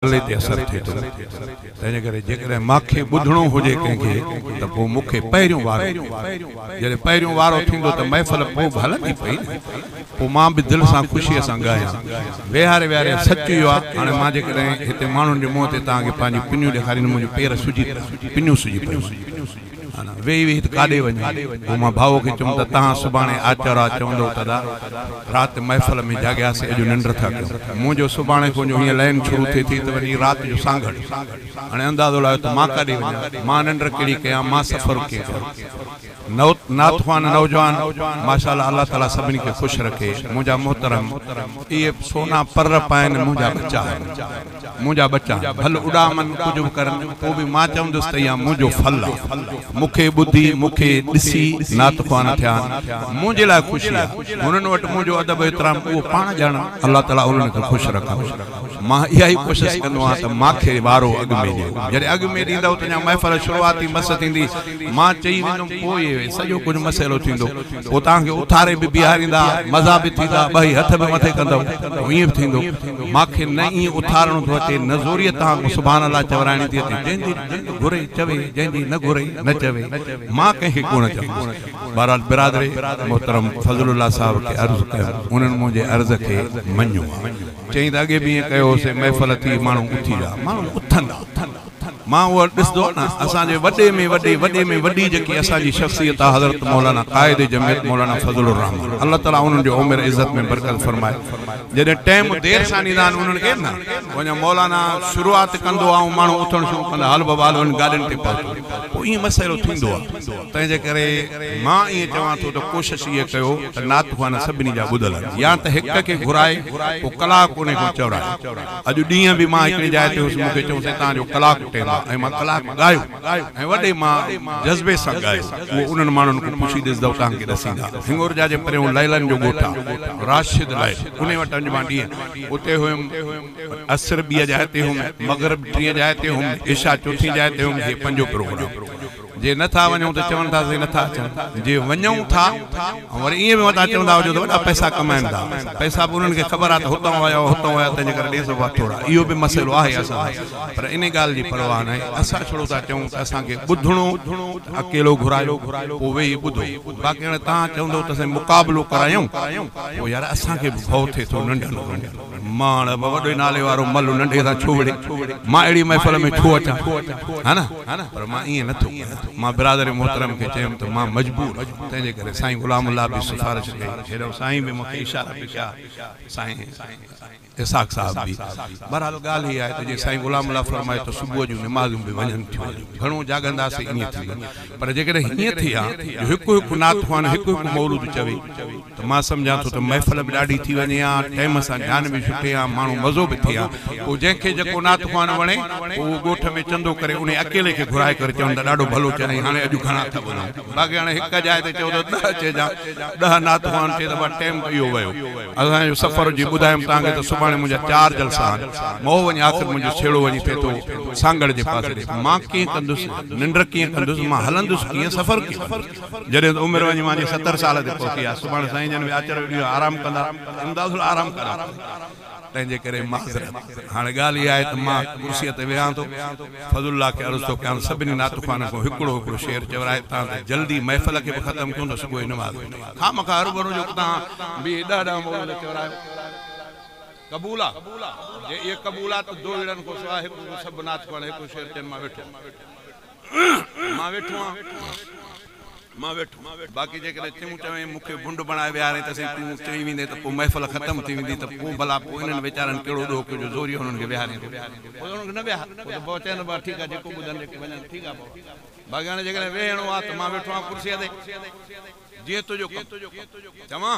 سالي تي اثر ٿئي ٿو، تنهنجي ڪري جيڪڏهن ماکي ٻڌڻو هجي ڪنهن کي ته پوء مون کي پهريون وارو ڏي. جڏهن پهريون وارو ٿيندو ته محفل پوء به هلندي پئي نه. پوء مان به دل سان خوشيء سان ڳايان. ويهاري ويهاري سچ اهو آ، هاڻي مان جيڪڏهن هتي ماڻهن جي منهن تي توهان کي پنهنجيون پنيون ڏيکاريندم، منهنجي پير سجي پيا، پنيون سجي پيون. هاڻ ويهي ويهي ته ڪاڏي وڃي؟ پوء مان ڀائوء کي چيم ته تهان سڀاڻي آچر آ، چوندو ته ادا، رات محفل ۾ جاڳياسي، اڄ ننڊ ٿا ڪيون. مون جو سڀاڻي کان جو هيئن لئن شروع ٿئي ٿي ته وڃي رات جو سانگهڙ. هاڻي اندازو لايو ته مان ڪاڏي وڃان؟ مان ننڊ ڪهڙي ڪيان؟ مان سفر ڪيئن ڪيان؟ نوت نعت خوان نوجوان ماشاء الله الله تعالي سڀني کي خوش رکي منهنجا محترم اهي سونا پر پائن منهنجا ٻچا آهن. منهنجا ٻچا ڀل اڏامن، ڪجهه به ڪرن، پوء به مان چوندس ته اها منهنجو ڦل آ. مون کي ٻڌي، مون کي ڏسي نعت خوان ٿيا آهن. منهنجي لاء خوشي آ. هنن وٽ منهنجو ادب و احترام اهو پاڻ ڄاڻن. الله تعاليٰ انهن کي خوش رکندو. مان اها ئي ڪوشش ڪندو آهيان ته ماکي وارو اڳ ۾ ڏيو. جڏهن اڳ ۾ ڏيندؤ ته اڃا محفل شروعات ئي مس ٿيندي. مان چئي ويندم پوء اهي سڄو ڪجهه مسئلو ٿيندو. پوء توهان کي اٿاري به بيهاريندا، مزا به ٿيندا، ٻئي هٿ به مٿي ڪندؤ. پوء ائين به ٿيندو. مان کي نه ائين اٿارڻو ٿو اچي، نه زوريء توهان کان سبحان الله چورائڻي ٿي اچي. جنهن جي جنگ گهري چوي، جنهن جي نه گهري نه چوي. مان ڪنهن کي ڪونه چوندس. بهرحال برادري محترم فضل الله صاحب کي عرض ڪيم، انهن منهنجي عرض کي مڃيو آهي. چيائين ته اڳي به ائين ڪيو هوسين، محفل ٿي، ماڻهو اٿي ويا. ماڻهو اٿندا. مان اهو ڏسندو نه اسان جي وڏي ۾ وڏي وڏي ۾ وڏي جيڪي اسان جي شخصيت آهي حضرت مولانا قائد جمعيت مولانا فضل الرحمان الله تعالي انهن جي عمر عزت ۾ برڪت فرمائي جڏهن ٽيم دير سان ڏيندا آهن انهن کي نه وڃان مولانا شروعات ڪندو آهي ماڻهو اٿڻ شروع ڪندا هل بابا هل وڃ گاڏين تي پهچون پوء ائين مسئلو ٿيندو آهي تنهن جي ڪري مان ائين چوان ٿو ته ڪوشش اها ڪيو ته نعت خوان سڀني جا ٻڌل هجن يا ته هڪ کي گهرائي پوء ڪلاڪ انهي کان چورائي اڄ ڏينهن به مان هڪڙي جاء تي هوس، مون کي چيائونس هتان جو ڪلاڪ ٽيم آ ۽ مان ڪلاڪ ڳايو ۽ وڏي مان جذبي سان ڳايو. اهو انهن ماڻهن کان پڇي ڏس دؤ توهان کي ڏسيندا. هڱورجا جي پريون ليلن جو ڳوٺ آ، راشد لئي، انهي وٽ اڄ مان ڏينهن اتي هيم، عصر ٻيء جاء تي هيم، مغرب ٽينء جاء تي هيم، عشاء چوٿين جاء تي هيم، هي پنجون پروگرام. جي نه ٿا وڃون ته چون ٿا اسين نه ٿا اچون، جي وڃون ٿا ۽ وري ائين به متان چوندا هجو ته وڏا پئسا ڪمائن ٿا، پئسا به انهن کي خبر آهي ته هتان ويا هئا هتان ويا تنهنجي ڪري ڏي سگهه ٿورا، اهو به مسئلو آهي اسان لاء پر انهي ڳالهه جي پرواهه ناهي، اسان ڇڙو ٿا چئون ته اسان کي ٻڌڻو ته اڪيلو گهرايو پوء ويهي ٻڌو باقي هاڻي توهان چوندو ته اسين مقابلو ڪرايون پوء يار اسان کي به ڀؤ ٿئي ٿو ننڍن مان اڙ به وڏي نالي وارو ملو ننڍي سان ڇو وڙهي مان اهڙي محفل ۾ ڇو اچان ها نه پر مان ائين نه ٿو ڪريان مان برادري محترم کي چيم ته مان مجبور آهيان تنهن جي ڪري سائين غلام الله به سفارش ڪئي هيڏانهن سائين به مون کي اشارا به ڪيا سائين اسحاق صاحب به بهرحال ڳالهه هي آهي ته جي سائين غلام الله فرمائي ته صبح جون نمازون به وڃن ٿيون گهڻو جاڳنداسين ائين ٿيندو پر جيڪڏهن هيئن ٿئي ها جو هڪ هڪ نعت خوان هڪ هڪ مولود چوي ته مان سمجهان ٿو ته محفل به ڏاڍي ٿي وڃي ها، ٽيم سان جان به ڇٽي ها، ماڻهو مزو به ٿئي ها. پوء جنهن کي جيڪو نعت خوان وڻي پوء اهو ڳوٺ ۾ چندو ڪري انهي اڪيلي کي گهرائي ڪري چون ته ڏاڍو ڀلو چئين هاڻي اڄ گهڻا ٿا ٻڌون. باقي هاڻي هڪ جاء تي چئو ته ڏهه چئجان، ڏهه نعت خوان چئي ته بس ٽيم اهو ويو. اسان جو سفر جي ٻڌايم توهان کي ته سڀاڻي منهنجا چار جلسا آهن. مئو وڃي آخر منهنجو ڇيڙو وڃي ٿئي ٿو سانگهڙ جي پاسي ڏي مان ڪيئن ڪندس. ننڊ ڪيئن ڪندس، مان هلندس ڪيئن، سفر ڪيئن ڪندس، جڏهن ته عمر وڃي مانجهي ستر سال تي پهتي آهي، سڀاڻي سائين جن ويا چريو ڏينهن آرام ڪندا، امداد اصل آرام ڪريان ٿو، تنهنجي ڪري معذرت، هاڻي ڳالهه اها آهي ته مان ڪرسيء تي ويهان ٿو، فضل الله کي عرض ٿو ڪيان سڀني نعتخوانن کان هڪڙو هڪڙو شعر چورائي تان ته جلدي محفل کي به ختم ڪيون ته صبح جي نماز به ٺهي، خامخواه هرڀرو جو اتان بيهي ڏهه ڏهه مولود چورايو. قبول آ جي اي قبول آ ته دوئيڙن کان سوا هڪ ڪو سڀ ناٿ پڙهڻ هڪ ڪو شعر چين مان ويٺو آن مان ويٺو آن مان ويٺو باقي جيڪڏهن تون چوين مون کي ڀنڊ بڻائي ويهارين ته سائين تون چئي ويندين ته پوء محفل ختم ٿي ويندي ته پوء ڀلا پوء انهن ويچارن ڪهڙو ڏوهه ڪيو جو زوريء انهن کي ويهارين ٿو پوء انهن کي نه ويهار پوء ته بابا چئن بابا ٺيڪ آ جيڪو ٻڌن جيڪي وڃن ٺيڪ آ بابا باقي هاڻي جيڪڏهن ويهڻو آ ته مان ويٺو آن ڪرسيء تي جيئن تنهنجو ڪم چوان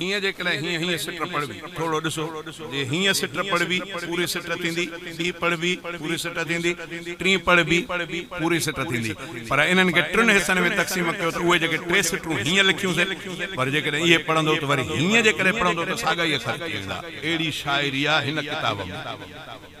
هينئن جيڪڏهن هينئن هينئن سٽ پڙهبي، ٿورڙو ڏسو، جي هينئن سٽ پڙهبي، پوري سٽ ٿيندي، ٻي پڙهبي، پوري سٽ ٿيندي، ٽين پڙهبي، پوري سٽ ٿيندي، پر انهن کي ٽن حصن ۾ تقسيم ڪيو ته اهي جيڪي ٽي سٽون هينئن لکيون سي، پر جيڪڏهن اهي پڙهندو ته وري هينئن جيڪڏهن پڙهندو ته ساڳا ئي اکر ٿي ويندا. اهڙي شاعري آ هن ڪتاب ۾.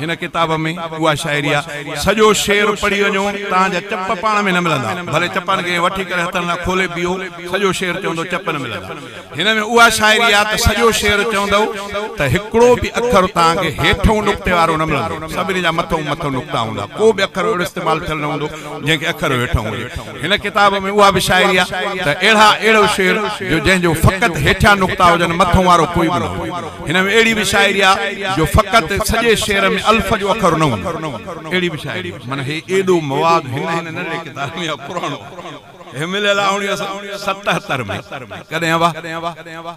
هن ڪتاب ۾ اها شاعري آ، سڄو شعر پڙهي وڃو، توهان جا چپ پاڻ ۾ نه ملندا، ڀلي چپن کي وٺي ڪري هٿن سان کولي پيو، سڄو شعر چوندو چپ نه ملندا. هن ۾ اها شاعري آ ته سڄو شعر چوندو ته هڪڙو به اکر توهان کي هيٺئون نقطي وارو نه ملندو، سڀني جا مٿئون مٿئون نقطا هوندا، ڪو به اکر اهڙو استعمال ٿيل نه هوندو، جنهن کي اکر هيٺئون هجي. هن ڪتاب ۾ اها به شاعري آ ته اهڙا اهڙو شعر جو جنهن جو فقط هيٺيان نقطا هجن مٿئون وارو ڪوئي به نه هجي. هن ۾ اهڙي به شاعري آ جو فقط سڄي شعر ۾ الف جو اکر نه هوندو اهڙي به شاعري آ. معنيٰ هي ايڏو مواد هن هن ننڍڙي ڪتاب ۾ آ پراڻو هي مليل آ اڻويهه سئو ستهتر ۾ ڪڏهن اها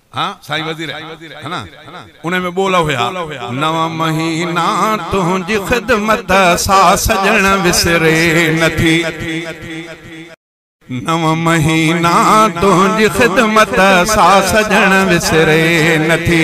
ها سائين وزير ها نه انهي ۾ ٻول هيا. نو مهينا تنهنجي خدمت سا سڄڻ وسري نه ٿي. نو مهينا تنهنجي خدمت سا سڄڻ وسري نه ٿي.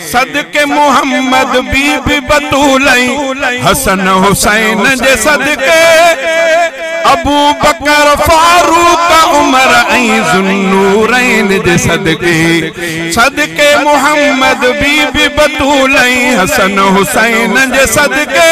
صدقي محمد بي بي بتول ۽ حسن حسين جي صدقي ابو بڪر فاروق عمر ۽ ذوالنورين جي صدقي صدقي محمد بي بي بتول ۽ حسن حسين جي صدقي